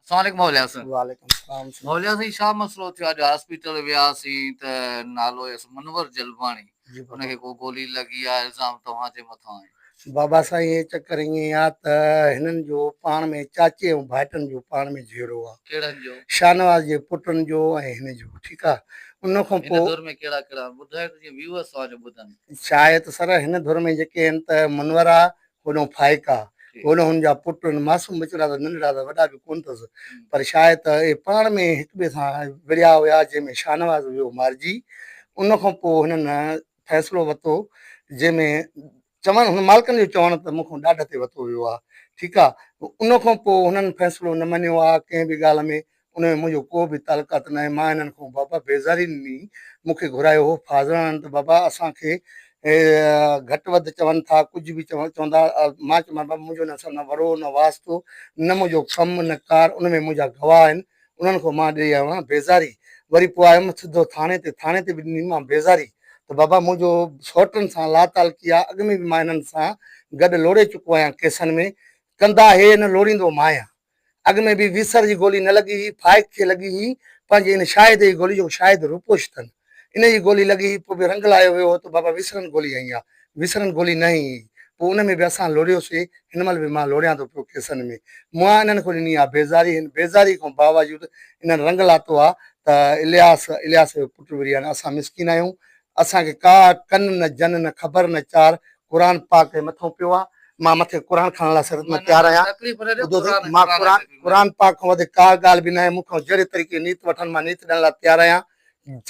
اسلام عليڪم موليٰ حسن. وعليڪم السلام. موليٰ سائين ڇا مسئلو ٿيو اڄ هاسپيٽل وياسين ته نالو هيس منور جلباڻي ان کي ڪو گولي لڳي آ الزام توهان جي مٿان آهن. بابا سائين هي چڪر ائين آ ته هنن جو پاڻ ۾ چاچي ۽ ڀائٽن جو پاڻ ۾ جهيڙو آ. ڪهڙن جو؟ شاهنواز جي پٽن جو ۽ هن جو ٺيڪ آ ان کان پوء. هن ڌر ۾ ڪهڙا ڪهڙا آهن ٻڌايو ته جيئن ويوئرس توهان جو ٻڌن. شايد سر هن ڌر ۾ جيڪي آهن ته منور آ هوڏانهن ڦائڪا، هوڏانهن هن جا پٽ، هن معصوم ٻچڙا ته ننڍڙا ته وڏا به ڪونه اٿس، پر شايد ته اهي پاڻ ۾ هڪٻئي سان وڙهيا هيا، جنهن ۾ شاهنواز ويو مارجي. ان کان پوء هنن فيصلو وتو، جنهن ۾ چوڻ، هن مالڪن جو چوڻ ته مون کان ڏاڍ تي وتو ويو آهي، ٺيڪ آهي، ان کان پوء هنن فيصلو نه مڃيو آهي ڪنهن به ڳالهه ۾، ان ۾ منهنجو ڪو به تعلقات ناهي، مان هنن کان بابا بيزاري نني، مون کي گهرايو هو، فاضلاڻن ته بابا اسان کي گهٽ وڌ چون ٿا، ڪجهه به چوندا، مان چيو مان بابا منهنجو هنن سان نه وڙو، نه واسطو، نه منهنجو ڪم، نه ڪار، ان ۾ منهنجا گواهه آهن، انهن کان مان ڏئي آيو آهيان بيزاري، وري پوء آيم سڌو ٿاڻي تي، ٿاڻي تي به ڏني مان بيزاري ته بابا منهنجو سئوٽن سان لاتعلقي آهي، اڳ ۾ به مان هنن سان گڏ لوڙي چڪو آهيان ڪيسن ۾، ڪندا هي نه لوڙيندو ماهيان. اڳ ۾ به ويسر جي گولي نه لڳي هئي، فائق کي لڳي هئي، پنهنجي ان شاهد جي گولي جو شاهد روپوش تن ان جي گولي لڳي هئي، پوء به رنگ لاهيو ويو هو ته بابا ويسرن گولي هنئي آ، ويسرن گولي نه هنئي هئي، پوء ان ۾ به اسان لوڙهيو سي، هن مهل به مان لوڙهيان ٿو پيو ڪيسن ۾، مون انهن کان ڏني آ بيزاري، هن بيزاري کان باوجود انهن رنگ لاتو آ ته الياس، الياس جو پٽ وريان، اسان مسڪين آهيون، اسان کي ڪا ڪن نه جن نه خبر نه چار، قرآن پاڪ تي مٿو پيو آ مان مٿي قرآن کڻڻ لاء سرت ۾ تيار آهيان ٻڌو ته مان قرآن قرآن پاڪ کان وڌيڪ ڪا ڳالهه به ناهي مون کان جهڙي طريقي نيت وٺن مان نيت ڏيڻ لاء تيار آهيان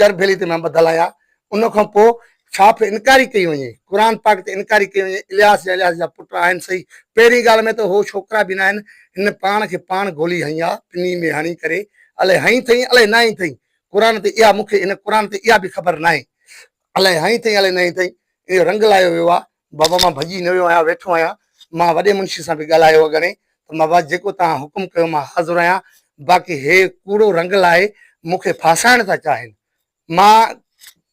چرڀيلي تي مان ٻڌل آهيان ان کان پوء ڇا پھي انڪاري ڪئي وڃي قرآن پاڪ تي انڪاري ڪئي وڃي الياس جا الياس جا پٽ آهن صحيح پهرين ڳالهه ۾ ته هو ڇوڪرا به ناهن هن پاڻ کي پاڻ گولي هنئي آ پني ۾ هڻي ڪري الئي هنئي ٿئي الئي ناهي ٿئي قرآن تي اها مون کي هن قرآن تي اها به خبر ناهي الائي هائين اٿئي الائي ناهين اٿئي ان جو رنگ لاهيو ويو آهي بابا مان ڀڄي نه ويو آهيان ويٺو آهيان مان وڏي منشي سان به ڳالهايو هو گهڻي ته بابا جيڪو توهان حڪم ڪيو مان حاضر آهيان باقي هي ڪوڙو رنگ لاهي مون کي ڦاسائڻ ٿا چاهين مان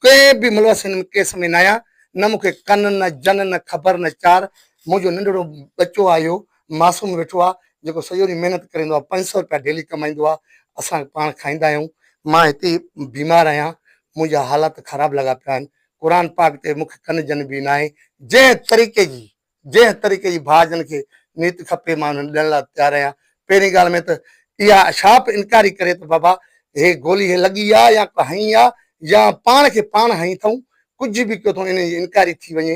ڪنهن به ملوث هن ڪيس ۾ نه آهيان نه مون کي ڪن نه جن نه خبر نه چار منهنجو ننڍڙو ٻچو آهي اهو معصوم ويٺو آ جيڪو سڄو ڏينهن محنت ڪري ايندو آ پنج سؤ رپيا ڊيلي ڪمائيندو آ اسان پاڻ کائيندا آهيون. مان هتي بيمار آهيان منهنجا حالات خراب لڳا پيا آهن قرآن پاڪ تي مونکي ڪن جن به ناهي جنهن طريقي جي جنهن طريقي جي ڀاء جن کي نيت کپي مان انهن ڏيڻ لاء تيار آهيان پهرين ڳالهه ۾ ته اها شاپ انڪاري ڪري ته بابا هي گولي هي لڳي آ يا ڪو هنئي آ يا پاڻ کي پاڻ هنئي ٿئون ڪجهه به ڪيو ٿئون انهن جي انڪاري ٿي وڃي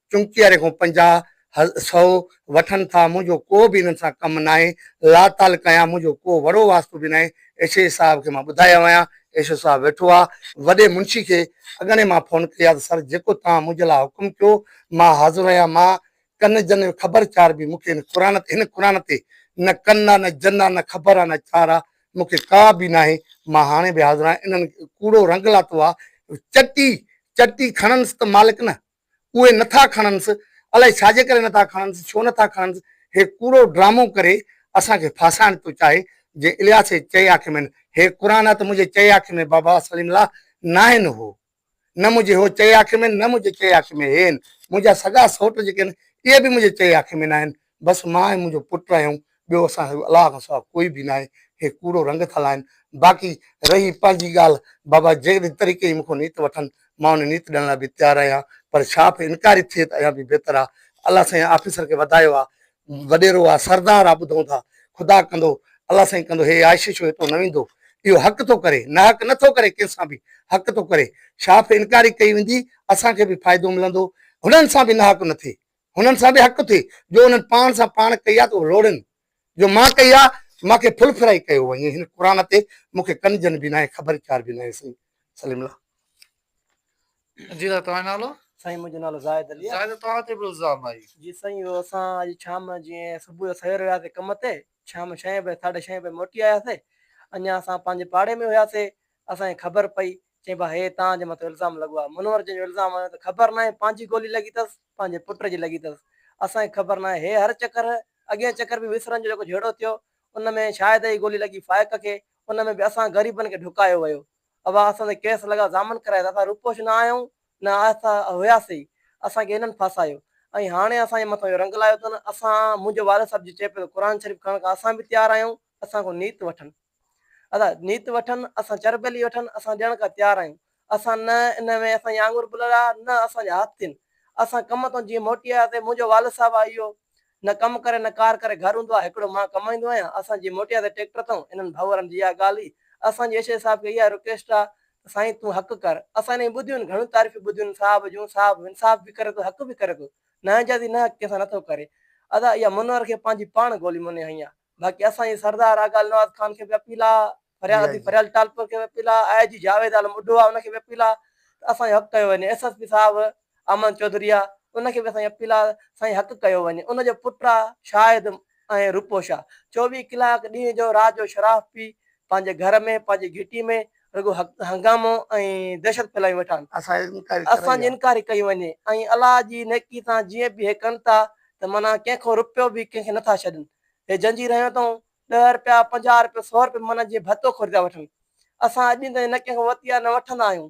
چمچي واري کان پنجاهه، سؤ، وٺن ٿا، منهنجو ڪو به انهن سان ڪم ناهي، لاتعلق آهيان، منهنجو ڪو وڙو واسطو به ناهي، ايشي صاحب کي مان ٻڌايو آهيان، ايشو صاحب ويٺو آ، وڏي منشي کي اڳڻي مان فون ڪئي آ ته سر جيڪو توهان منهنجي لاء حڪم ڪيو مان حاضر آهيان، مان ڪن جن خبر چار به مون کي هن قرآن تي هن قرآن تي نه ڪن آ نه جن آ نه خبر آ نه چار آ مون کي ڪا به ناهي، مان هاڻي به حاضر آهيان، انهن ڪوڙو رنگ لاتو آ، چٽي چٽي کڻنس ته مالڪ نه. اهي نه ٿا کڻنس، الائي ڇاجي ڪري نه ٿا کڻنس، ڇو نه ٿا کڻنس، هي ڪوڙو ڊرامو ڪري اسان کي ڦاسائڻ ٿو چاهي، جي الياس جي چئي آکي ۾ هي قرآن آ ته منهنجي چئي آکي ۾ بابا سليم الله ناهن هو نه منهنجي هو چئي آکي ۾ نه منهنجي چئي آکي ۾ هي هن منهنجا سڳا سوٽ جيڪي آهن اهي به منهنجي چئي آکي ۾ ناهن بس مان ۽ منهنجو پٽ آهيون، ٻيو اسان سان الله کان سواء ڪوئي به ناهي. هي ڪوڙو رنگ ٿا لائن. باقي رهي پنهنجي ڳالهه، بابا جيڪڏهن طريقي جي مون کان نيت وٺن، مان ان نيت ڏيڻ لاء به تيار آهيان، پر شاپ انڪاري ٿئي ته اڃا به بهتر آ. الله سائين آفيسر کي وڌايو آ. وڏيرو آ، سردار آ، ٻڌون ٿا. خدا ڪندو، الله سائين ڪندو، هي عائشي ڇو هتو نه ويندو. اهو حق ٿو ڪري، ناحق نه ٿو ڪري ڪنهن سان به، حق ٿو ڪري. شاپ انڪاري ڪئي ويندي، اسان کي به فائدو ملندو، هنن سان به ناحق نه ٿئي. هنن سان به حق ٿئي جو انهن پاڻ سان پاڻ ڪئي آ ته اهو لوڙين جو مان ڪئي آ مان کي ڦل ڦرائي ڪيو وڃي هن قرآن تي مون کي ڪن جن به ناهي خبر چار به ناهي سائين سليم الله. جي سائين توهان جو نالو. سائين منهنجو نالو زاهد علي آ. زاهد توهان تي به الزام آهي. جي سائين اهو اسان اڄ شام جيئن صبح جو سوير وياسي ڪم تي شام ڇهين بجي ساڍي ڇهين بجي موٽي آياسي اڃان اسان پنهنجي پاڙي ۾ هياسي اسان کي خبر پئي، چيم ڀا هي توهان جي مٿو الزام لڳو آهي. منور جن جو الزام هيو ته خبر ناهي پنهنجي گولي لڳي اٿس، پنهنجي پٽ جي لڳي اٿس. اسان کي خبر ناهي. هي هر چڪر، اڳين چڪر به وسرن جو جيڪو جهيڙو ٿيو، ان ۾ شاهد جي گولي لڳي فائق کي، ان ۾ به اسان غريبن کي ڍڪايو ويو. اها اسان تي ڪيس لڳا، ضامن ڪرايا ته اسان روپوش نه آهيون، نه آهسته هياسي ئي. اسان کي هنن ڦاسايو ۽ هاڻي اسان جي مٿان اهو رنگ لايو اٿن. اسان، منهنجو والد صاحب جي چئي پيو ته قرآن شريف کڻڻ کان اسان به تيار آهيون، اسان کان نيت وٺن. ادا نيت وٺن، اسان چربيلي وٺن، اسان ڏيڻ کان تيار آهيون. اسان نه ان ۾ اسان جي آڱر ٻلڙا، نه اسان جا هٿ ٿين. اسان ڪم تان جيئن موٽي آياسي، منهنجو والد صاحب آ اهو نه ڪم ڪري نه ڪار ڪري گهر هوندو آ، هڪڙو مان ڪمائيندو آهيان، اسان جيئن موٽي آياسي ٽيڪٽر تان، انهن ڀائوارن جي اها ڳالهه هئي، اسان جي ايشيء صاحب کي اها رڪويسٽ آ ته سائين تون حق ڪر، اسان انهن جون ٻڌيون آهن، گهڻيون تعريفون ٻڌيون آهن صاحب جون، صاحب انصاف به ڪري ٿو حق به ڪري ٿو، ناانجازي نه حق ڪنهن سان نه ٿو ڪري. ادا اها منور کي پنهنجي پاڻ گولي موني هنئي آ. باقي اسان جي سردار آغا النواز خان کي به اپيل آ فريال اديب فريال ٽالپر کي به اپيل آ آء جي جاويد عالم ٻڍو آ ان کي به اپيل آ ته اسان جو حق ڪيو وڃي ايس ايس پي صاحب احمد چوڌري آ ان کي به اسان جي اپيل آ سائين حق ڪيو وڃي ان جو پٽ آ شاهد ۽ روپو شاهه چوويهه ڪلاڪ ڏينهن جو رات جو شراب پي پنهنجي گهر ۾ پنهنجي گهٽي ۾ رڳو هنگامو ۽ دهشت ڦهلائي ويٺان. اسان جي انڪاري ڪيون وڃي ۽ الله جي نيڪي سان جيئن به هي ڪن ٿا ته معنيٰ ڪنهن کان رپيو به ڪنهن کي نه ٿا ڇڏن. هي جنجير هنيو اٿئون، ڏهه رپيا، پنجاهه رپيا، سؤ رپيا معنيٰ جيئن ڀتو خريدا وٺن. اسان اڄ تائين نه ڪنهن کان وتيا نه وٺندا آهيون.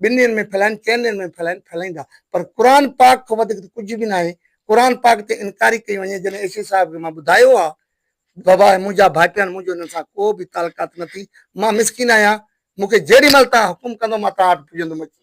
ٻن ڏينهن ۾ ڦهلائين چئن ڏينهن ۾ ڦهلائين ڦهلائيندا پر قرآن پاڪ کان وڌيڪ ته ڪجهه به ناهي قرآن پاڪ تي انڪاري ڪئي وڃي جڏهن ايشي صاحب کي مان ٻڌايو ها بابا هي منهنجا ڀائٽيان منهنجو هنن سان ڪو به تعلقات نه ٿي مان مسڪين آهيان مون کي جيڏي مهل توهان حڪم ڪندو مان توهان وٽ پڄندم اچي